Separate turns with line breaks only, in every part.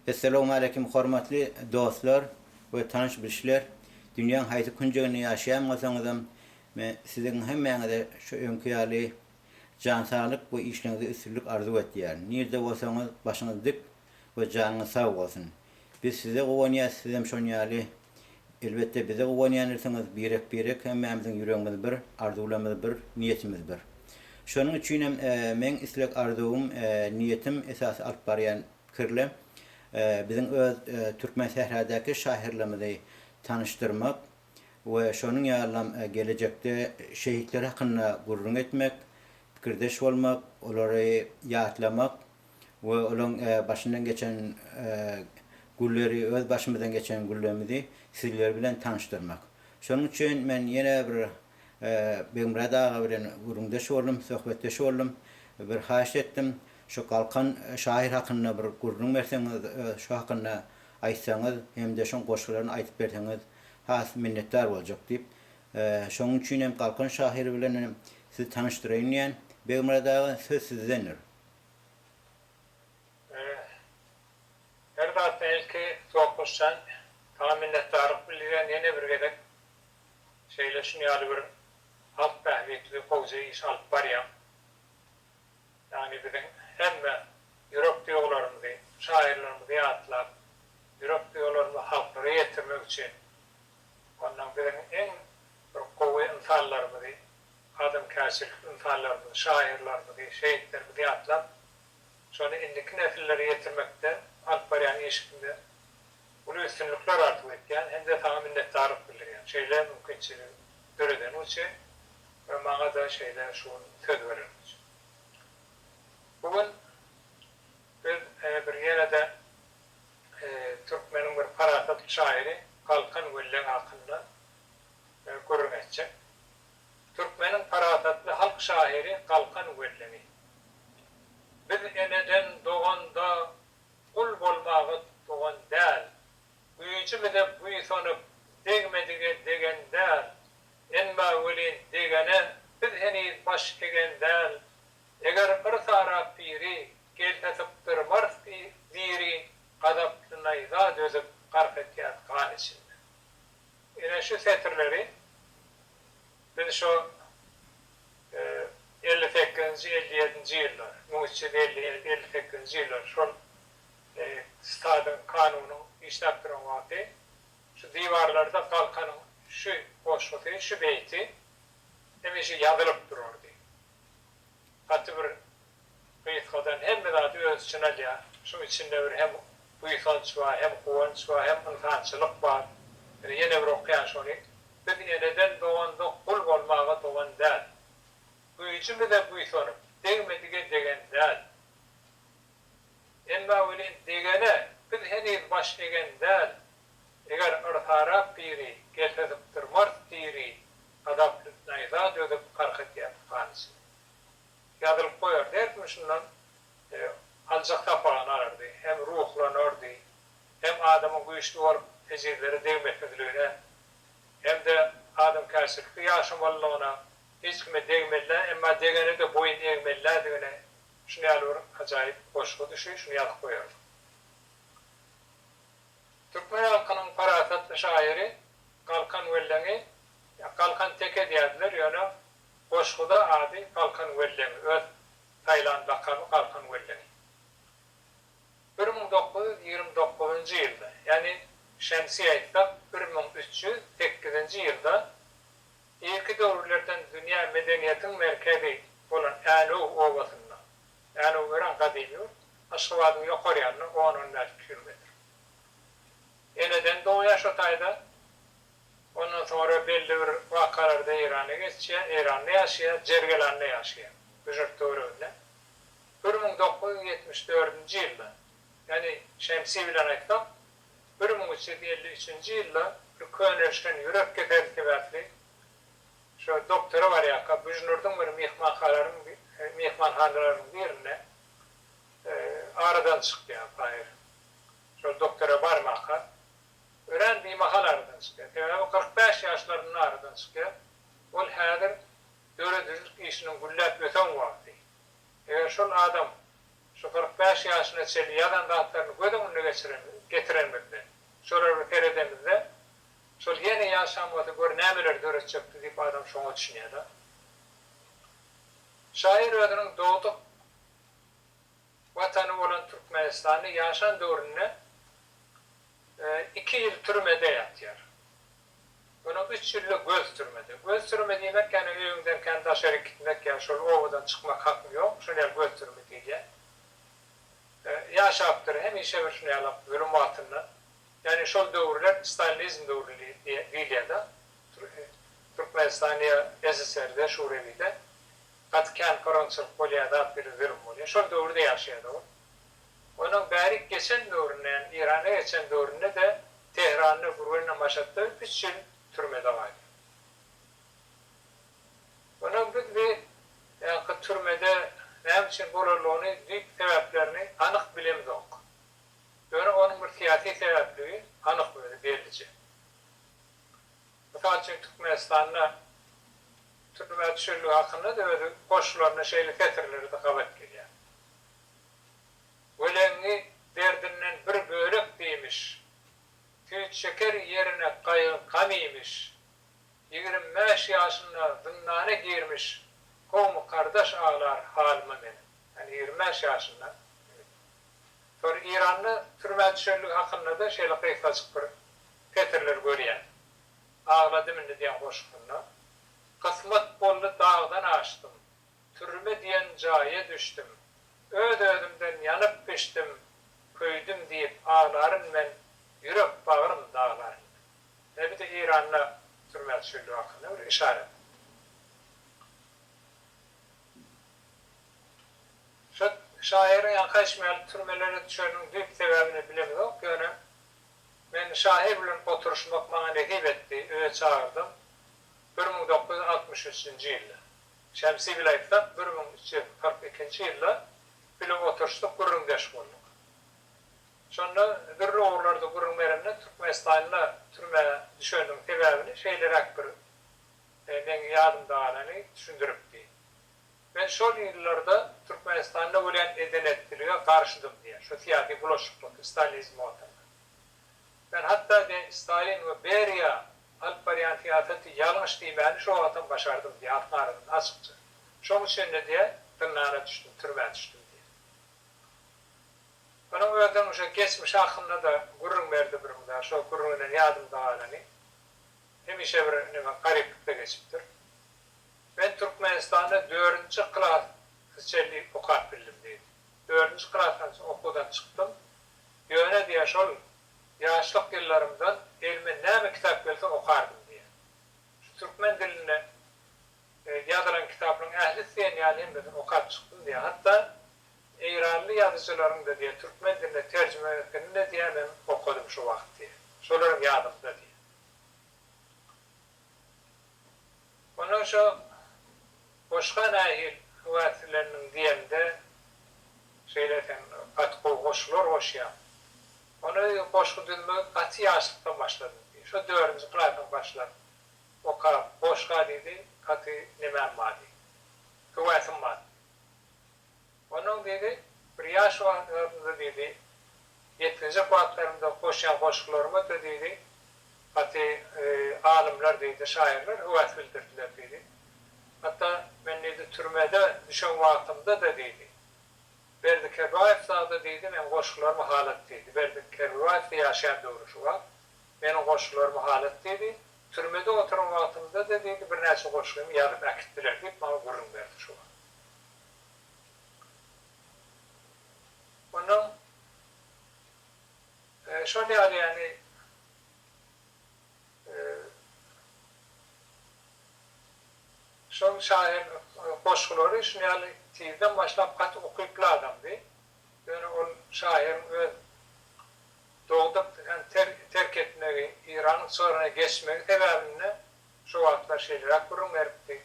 Essalamualeýkum hormatly dostlar we tanyş bilşler! Dünýäň haýsy künjeginde ýaşaýan bolsaňyzam men siziň hemmäňize şu öňki ýaly jan saglyk we işleňizde üstünlik arzuw etýärin. Nirde bolsaňyz başyňyz dik we janyňyz sag bolsun! Biz size guwanýas sizem şon ýaly Elbetde bize guwanýan ilsiňiz birek birek hemmämiziň ýüregimiz bir, arzuwlarymyz bir, niýetimiz bir. Şonuň üçinem meň isleg arzuwym, niýetim esasy alyp barýan pikirle biziň öz türkmen sähradäki şahyrlarymyzy tanyşdyrmak we şonuň ýalylam gelejekde şehitler hakynda gürrüň etmek, pikirdeş bolmak, olary ýatlamak, we olaň başyndan geçen gülleri öz başymyzdan geçen güllerimizi sizler bilen tanyşdyrmak. Şonuň üçin men ýene bir Begmyrat aga bilen gürrüňdeş boldum, söhbetdeş boldum. Bir haýyşt etdim, şu Galkan şahyr hakynda bir gürrüň berseňiz, şu hakynda aýtsaňyz hem-de şoň goşgularyny aýdyp berseňiz has minnetdar boljak diýip. Şonuň üçin hem Galkan şahyr bilen sizi tanyşdyraýyn diýýän. Begmyrat aga söz sizdendir.
Her zatdan ilki Sopbaşjan saňa minnetdarlyk bildirýän ýene bir gezek şeýle şuny ýaly bir halk bähbitli gowja iş alyp barýaň ýagny biziň hemme ýürek duýgularymyzy şaýyrlarymyzy ýatlap ýürek duýgularymyzy halklara ýetirmek üçin ondan biziň iň bir gowy ynsanlarymyzy Adamkärçilik ynsanlarymyzy, şahyrlarymyzy, şehitlerimizi ýatlap, şony indiki nesillere ýetirmekde alyp barýan işiňde uly üstünlikler arzuw etýän hem-de saňa minnetdarlyk bildirýän şeýle mümkinçiligi döredeniň üçin we maňa-da şeýle şu gün söz bereniň üçin. Bu gün biz bir ýene-de türkmeniň bir parasatly şahyry Galkan Welleň hakynda gürrüň etjek. Türkmeniň parasatly halk şahyry Galkan Wellemi. Biz eneden, doganda gul bolmaga tugan däl, güýjümize buýsanyp, degmedige degen däl, emma welin degene biz heniz baş egen däl, eger yrs arap biri, gelse sypdyrmarys diri, gazaply naýza dözüp, gark etýäs gan içinde. Ine şu setirleri biz şo elli sekizinji, elli ýedinji ýyllar, müň üç ýüz elli ýedi, elli sekizinji ýyllar şol stadyň, kanunyň işläp duran wagty şu diwarlarda Galkanyň şu goşgusy, şu beýti hemişe ýazylyp durardy. Gaty bir Gysgadan hemme zady öz içine alýar. Şuň içinde bir hem buýsanç bar, hem guwanç bar, hem ynsançylyk bar. Ine ýene bir okaýan şony. Biz eneden dogandyk, gul bolmaga dogan däl. Güýjümize buýsanyp, degmedige degen däl. Emma welin degene biz heniz baş egen däl. Eger yrsarap biri, gelse sypdyrmarys diri, gazaply naýza dözüp, gark etýär tupan içinde. Ýazylyp goýardy, her kim şundan aljak sapagyny alardy, hem ruhlanardy, hem adamyň güýçli bolup ejizlere degmesizligine, hem-de adamkärçilikli ýaşamalylygyna, hiç kime degmeli-dä, emma degene-de boýun egmeli-dädigine şuny ýaly bir ajaýyp goşgy düşi, şuny ýazyp goýardy. Türkmen halkynyň parasatly şaýyry Galkan Welleňi Galkan teke diýerdiler, ýöne Goşguda ady Galkan Welleňi öz saýlan lakamy Galkan Welleňi. Bir müň dokuz ýüz ýigrimi dokuzynjy ýylda, ýagny şemsiýe aýtsak bir müň üç ýüz sekizinji ýylda irki döwürlerden dünýä medeniýetiň merkezi bolan Änew obasynda, Änew örän gadymy ýurt, Aşgabadyň ýokar ýanynda on-on bäş kilometr. Eneden dogýar şo taýda. Ondan soňra belli bir wakalarda Eýrana geçýär, Eýranda ýaşaýar, Jergelanda ýaşaýar, Büjürt töwereginde. Bir müň dokuz ýüz ýetmiş dördünji ýylda, ýagny şemsi bilen aýtsak, bir müň üç ýüz elli üçünji ýylda bir könelişen ýürek keseli sebäpli şo doktora barýarka Büjnürdiň bir myhmanhalaryň myhmanhanalarynyň birinde aradan çykýar Taýyr. Şol doktora barmaka. Örän bimahal aradan çykýar. Sebäbi kyrk bäş ýaşlarynda aradan çykýar. Ol häzir döredijilik işiniň gülläp ösen wagty. Eger şol adam şu kyrk bäş ýaşyna çenli ýazan zatlaryny göz öňüne geçiren, getirenimizde, şolara seredemizde, şol ýene ýaşan bolsa gör nämeleri döretjekdi diýip adam şoňa düşünýär-de. Şaýyr özüniň dogduk. Watany bolan Türkmenistanda ýaşan döwründe iki ýyl türmede ýatýar. Munuň üç ýyly göz türmede. Göz türme diýmek ýagny öýüňden kän daşaryk gitmek ýa şol obadan çykmak hakyň ýok. Şony ýaly göz türme diýilýär. Ýaşapdyr hemişe bir şuny ýaly zulum altynda. Ýagny şol döwürler stalinizm döwri diýilýär-de. Türkmenistanda ýa SSR-de, Şurewide. Gaty kän pyraňçylyk bolýar zat bile zülüm bolýar. Şol döwürde ýaşaýadygym. Onuň bärik geçen döwründe ýagny Iranda geçen döwründede Tehranda Gürgenle Maşatda üç ýyl türmede galýar. Onuň biz bi ýanky türmede näme üçin bolanlygyny düýp sebäplerini anyk bilemzok. Ýöne onuň bir syýasy sebäpligi anyk özi bellije. Mysal üçin Türkmenistanda türmä düşenligi hakynda-da öz goşgularynda şeýle setirleri-de gabat gelýär. Weleňňi derdinden bir bölek diýmiş, Süýt şeker ýerine gaýgy-gam iýmiş. Ýigrimi bäş ýaşynda zyndana girmiş, Kowmy-kardaş aglar halyma meniň. Ýagny ýigrimi bäş ýaşynda Sonra Eýranda türmä düşenligi hakynda-da şeýle gysgajyk bir Petirler görýän. Agladym indi diýen goşgunda, Kysmat boldy dagdan aşdym, Türme diýen jaýa düşdüm, Öz-özümden ýanyp-bişdim, Köýdüm diýip aglaryn men, Ýürek bagrym daglaryn men. Ýa bir de Eýranda türmä düşenligi hakynda bir işaret. Şu şaýyryň ýaňky aýtşy ýaly türmelere düşeniniň düýp sebäbini bilemizok, ýöne Men şahyr bilen oturyşmak maňa nesip etdi, öýe çagyrdym. Bir müň dokuz ýüz altmyş üçünji ýylda. Şemsi bile aýtsak, bir müň üç ýüz kyrk ikinji ýylda bile oturyşdyk, gürrüňdeş bolduk. Şonda dürli ugurlarda gürrüň beremden Türkmenistanda türmä düşeniniň sebäbini şeýleräk bir meň ýadymda galany düşündiripdi. Men şol ýyllarda Türkmenistanda bolýan edenetçilige garşydym diýýär, şu syýasy bulaşyklyk stalinizm wagtynda. Men hatda de Stalin we Beriýa alyp barýan syýasaty ýalňyş diýmäni şo wagtam başardym diýýär Altyn Arazyn açykça. Şoň üçin-de diýýär, zyndana düşdüm, türmä düşdüm diýýär. Munuň özüniň şo geçmişi hakynda-da gürrüň berdi bir gün bar, şo gürrüňinden ýadymda galany, hemişe bir neme, garyplykda geçipdir. Men Türkmenistanda dördünji klas çenli okap bildim diýdi. Dördünji klasdan soň okuwdan çykdym. Ýöne diýýär, şol ýaşlyk ýyllarymdan elime näme kitap gelse okardym diýýär. Şu türkmen dilinde ýazylan kitaplaryň ählisi diýen ýaly hemmesini okap çykdym diýýär. Hatda eýranly ýazyjylaryň-da diýýär, türkmen diline terjime etdigini-de diýýär, men okadym şo wagt diýýär. Şolar hem ýadymda diýýär. Onuň şo goşga nähil wagtsileniň diýemde şeýle sen gaty gowy goşgular goşýaň. Ony goşgy düzmegi gaty ýaşlykdan başladym diýdi. Şo dördünji klasyň başlap okap goşga diýdi gaty nemem bar diýdi. Höwäsim bar. Onuň diýdi, Bir ýaş wagtlarymda diýdi, ýetginjek wagtlarymda goşýan goşgularyma da diýdi, gaty alymlar diýdi, şaýyrlar höwäs bildirdiler diýdi. Hatda men diýdi, türmede düşen wagtymda-da diýdi, Berdi Kerbaýew zada diýdi, meniň goşgularymy halat diýdi. Berdi Kerbibaýew-de ýaşaýan döwri şu wagt. Meniň goşgularymy halat diýdi. Türmede oturan wagtymda-da diýdi, birnäçe goşgymy ýazyp äkitdiler diýip, maňa gürrüň berdi şu wagt. Onuň şol ýagdaýyny şol şahyr goşgulary şuny ýaly tizden başlap gaty ukyply adamdy. Ýöne ol şahyryň öz dogduk hem terk etmegi, Iranyň çygryna geçmegi sebäbinde şo wagtlar şeýleräk gürrüň beripdi.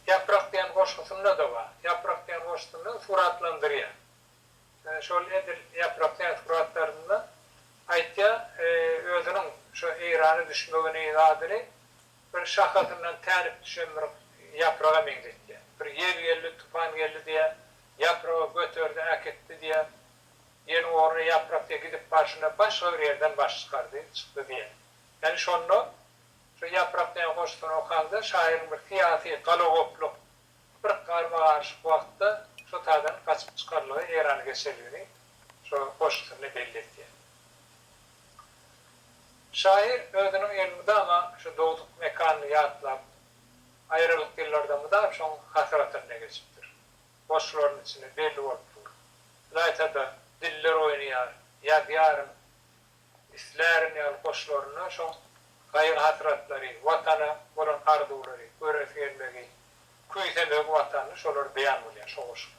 Ýaprak diýen goşgusynda-da bar. Ýaprak diýen goşgusynda suratlandyrýar. Şol edil Ýaprak diýen suratlarynda aýtýar, özüniň şo Eýrana düşmegini, zadyny bir şahasyndan tärip düşen bir ýapraga meňzetýär. Bir ýel geldi, tupan geldi diýýär, ýapragy göterdi, äkitdi diýýär. Ýeliň ornuna ýaprak diýýär, gidip barşynda başga bir ýerden baş çykardy, çykdy diýýär. Ýagny şonda Şu Ýaprak diýen goşgyny okanda şaýyryň bir syýasy galagoplyk, bir garma-garyşyk wagtda şu taýdan gaçyp çykarlygy Erany geçerligini şu goşgusynda belli etýär. Şaýyr özüniň elmydama şu dogduk mekanyny ýatlap, aýralyk ýyllarda mydam şoň hasratynda geçipdir. Goşgularynyň içinde belli bolup dur. Ylaýta-da, Diller oýnaýar, Ýazýaryn, Islärin ýaly goşlaryna şo gaýgy-hasratlary, Watana bolan arzuwlary, göresi gelmegi, küýsemegi Watanyny şolar beýan bolýar şo goşgularyň.